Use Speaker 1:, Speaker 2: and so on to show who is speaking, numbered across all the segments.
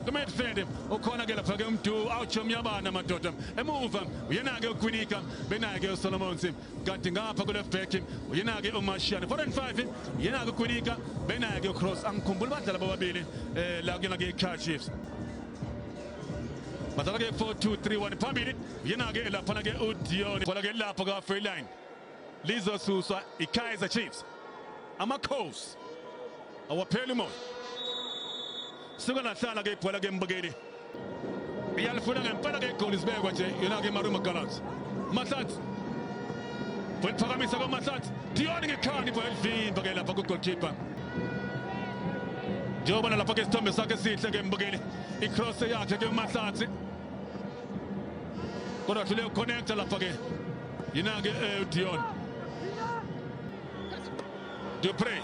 Speaker 1: kumidfield ukhona ke lapha ke umdu awutsho myabana madoda emuva uyena ke ukwinika benaye ke usolomons kanti ngapha kule back uyena ke umashiane 4 and 5 uyena ke ukwinika benaye ke ucross angikhumbuli badlala bobabili eh la kuyona ke icar chiefs badlala ke 4 2 3 1 phambili uyena ke lapha ke udion kodwa ke lapha ka free line lizosuswa ikaizer chiefs amakhosi awapheli umoya suka lahlala ke ibhola ke mbukeli iyalifuna ngempela ke igoli sibekwa nje yona ke marumo gallants mahlatsi weliphakamisa kwamahlatsi diyoni ngekhani ibhola elivimba ke lapha kugolkipa njengobona lapha ke isithombe sakhe esihle ke mbukeli icross yakhe ke umahlatsi kodwa hlule uconnecta lapha ke yina-ke eh, udion dupre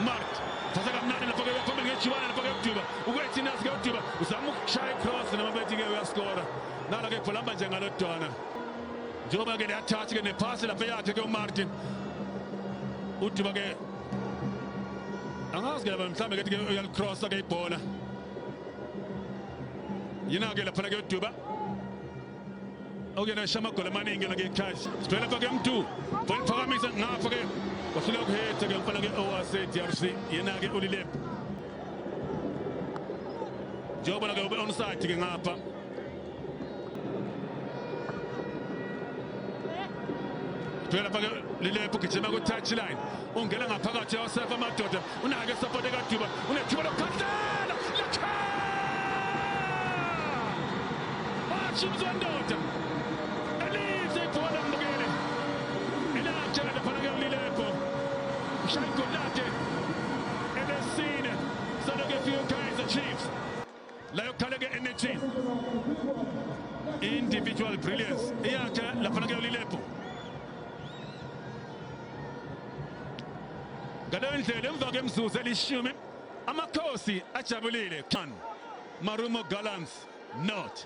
Speaker 1: mart thatha kamnandi lapha ke uyaphambili ngejibana lapha ke uduba ukwethinazi ke uduba uzama ukushaya icross namabethi-ke uyaskora nala ke khulamba nje ngalo dona njengoba ke liyathatha ke nephasi lapha yakhe ke umartin uduba ke angazi ke laba mhlawumbe kethi ke uyalicrossa ke ibhola yina-ke laphana kuyodwiba okuyena esha amagoli amaningi yona ngechash sivele lapha ke mdu funa ukuphakamisa ngapha ke wahluleka ukuhetha ke mfana ke owasedrc yena-ke ulilebhu njengoba-ke ube onside ke ngapha vela fake lilephu gijima ku-touch line ungena ngaphakathi yawasefa amadoda unake esapoti ekaduba unethuba lokukhahlela lakha washimzwa ndoda elize ibhola mbukele elakhe laphana kuyalilepho ushaya igoli lakhe elesine salokefika ukaizer chiefs Layo kale ke energy. Individual brilliance. Iyakhe lapha ke ulilepo. Ngaleyo ndlela emva kemzuzu elishumi amakhosi ajabulile. Marumo Gallants not.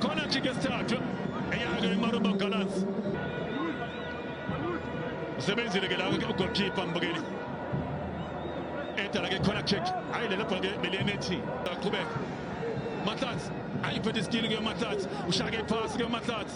Speaker 1: Corner kick esithathwe eyake iMaruba Gallants. Usebenzile ke la ugoalkeeper mbukeli. Edala ke corner kick. Hayi lelo bhola ke beliyenethi. Aqhubeka. Matlats ayiphethe isikili ke Matlats. Ushaya ke iphasi ke Matlats.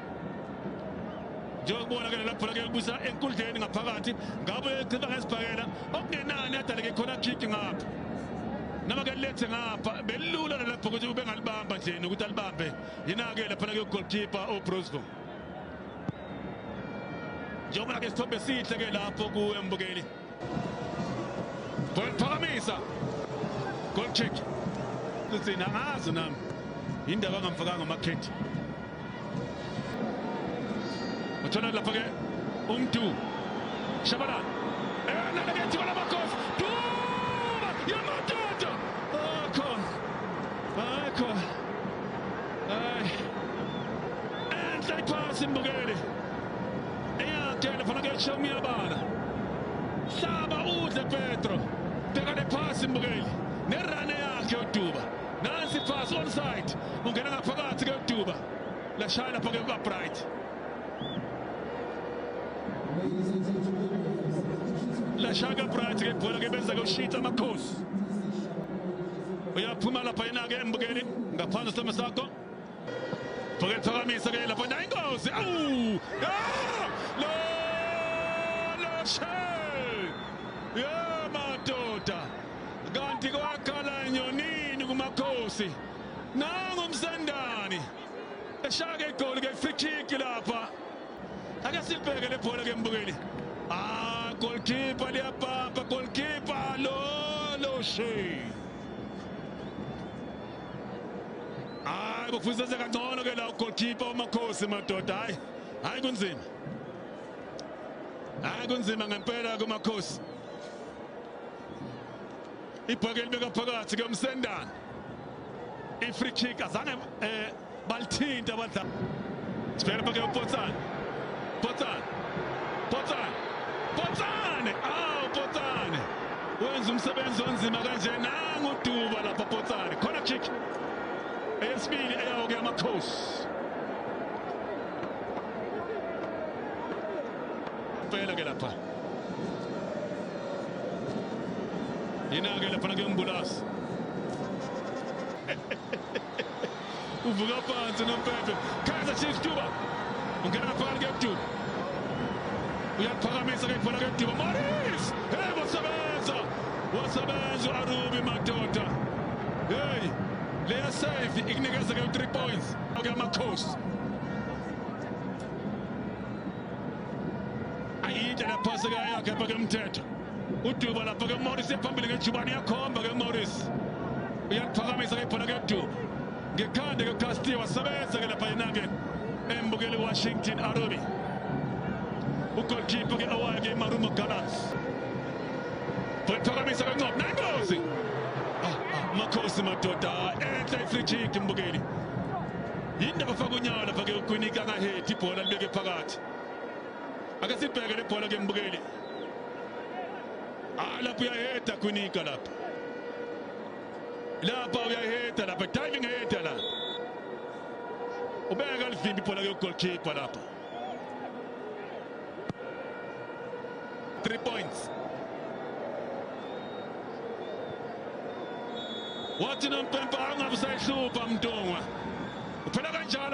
Speaker 1: njengokubonakele lapho lake libusa enkundleni ngaphakathi ngabo echiba ngesibhakela okungenani adaleke khona kick ngapha noma ke lethe ngapha belula lapho ukuthi ube ngalibamba nje nokuthi alibambe yinake lapha lake goalkeeper uBrusco njengoba ke sithombe sihle ke lapho kuembukeli Goliphakamisa. Goal kick. Ngicina ngazi nami. Indaba ngamfakanga amakhethi. Uthola lapha ke umdu. Shabana. Eh nalekethi bala makosi. Duma yamadoda. Akho. Akho. Ay. Enhle iphasi mbukeli. Eyakele fana kuyashiya umyabala. Hlaba udle Petro. Bheka le phasi mbukeli. Nerane yakhe uDuba. Nansi pass onside. Ungena ngaphakathi ke uDuba. Lashaya lapho ke uBright. Lashaya ke Bright ke ibhola ke benza ke ushitha amakhosi. Uyaphuma lapha yena ke embukeli ngaphansi sesimo sakho. Bheke thokamisa ke lapho nayi ingozi. Awu! Ah! Lo! Lo shame! Yeah, madoda. Kanti kwakhala nyonini kumakhosi. Nangu umsandani. Eshaka igoli ke free kick lapha. Ake sibheke le bhola ke mbukeli. Ah, goalkeeper liyabhabha, goalkeeper lo lo shame. hayi bokufiseze kangcono ke la ugoalkeeper wamakhosi madoda hayi hayi kunzima hayi kunzima ngempela kumakhosi ibhakeli bekaphakathi ke umsendana ifree kick azange eh Balithinta abadlali. Sibheke pake uPotsane. Potsane. Potsane. Potsane. Ah, Potsane. Wenza umsebenzi onzima kanje nangu Duba lapha Potsane. Khona kick. Eyesibili eyawo ke amakhosi. Phela ke lapha. Yena ke lapha ke umbulasi. uvuka phansi nompempe kaizer chiefs tuba ungena phakathi kebduba uyaliphakamisa ke ibhola kebduba maris hey wasebenza wasebenza u-arubi madoda hey leya save ikunikeza ke u-three points ke amakhosi ayinhle lapha sekayakhe pha kemthetho uduba lapho ke morris ephambili ngejubane uyakhomba ke morris uyaliphakamisa ke phona ke du ngekhanda ke castillo wasebenza ke lapha yena ke embukeli washington arobi ugolkipa ke awayo ke imarumo gallants bayiphakamisa kancane nengozi makhosi madoda enhle ifrijiki mbukeli yindaba faka unyawo lapha ke ugwinika angahethi ibhola libeke phakathi ake sibheke le bhola ke mbukeli Ah, lapho uyayeda kwinika lapho lapha uyayeda lapha diving heda lapha ubeka livimbi ibhola kuyogolkhipha lapha three points wathi nompempa angabe usayihlupha mntungwa uphela kanjalo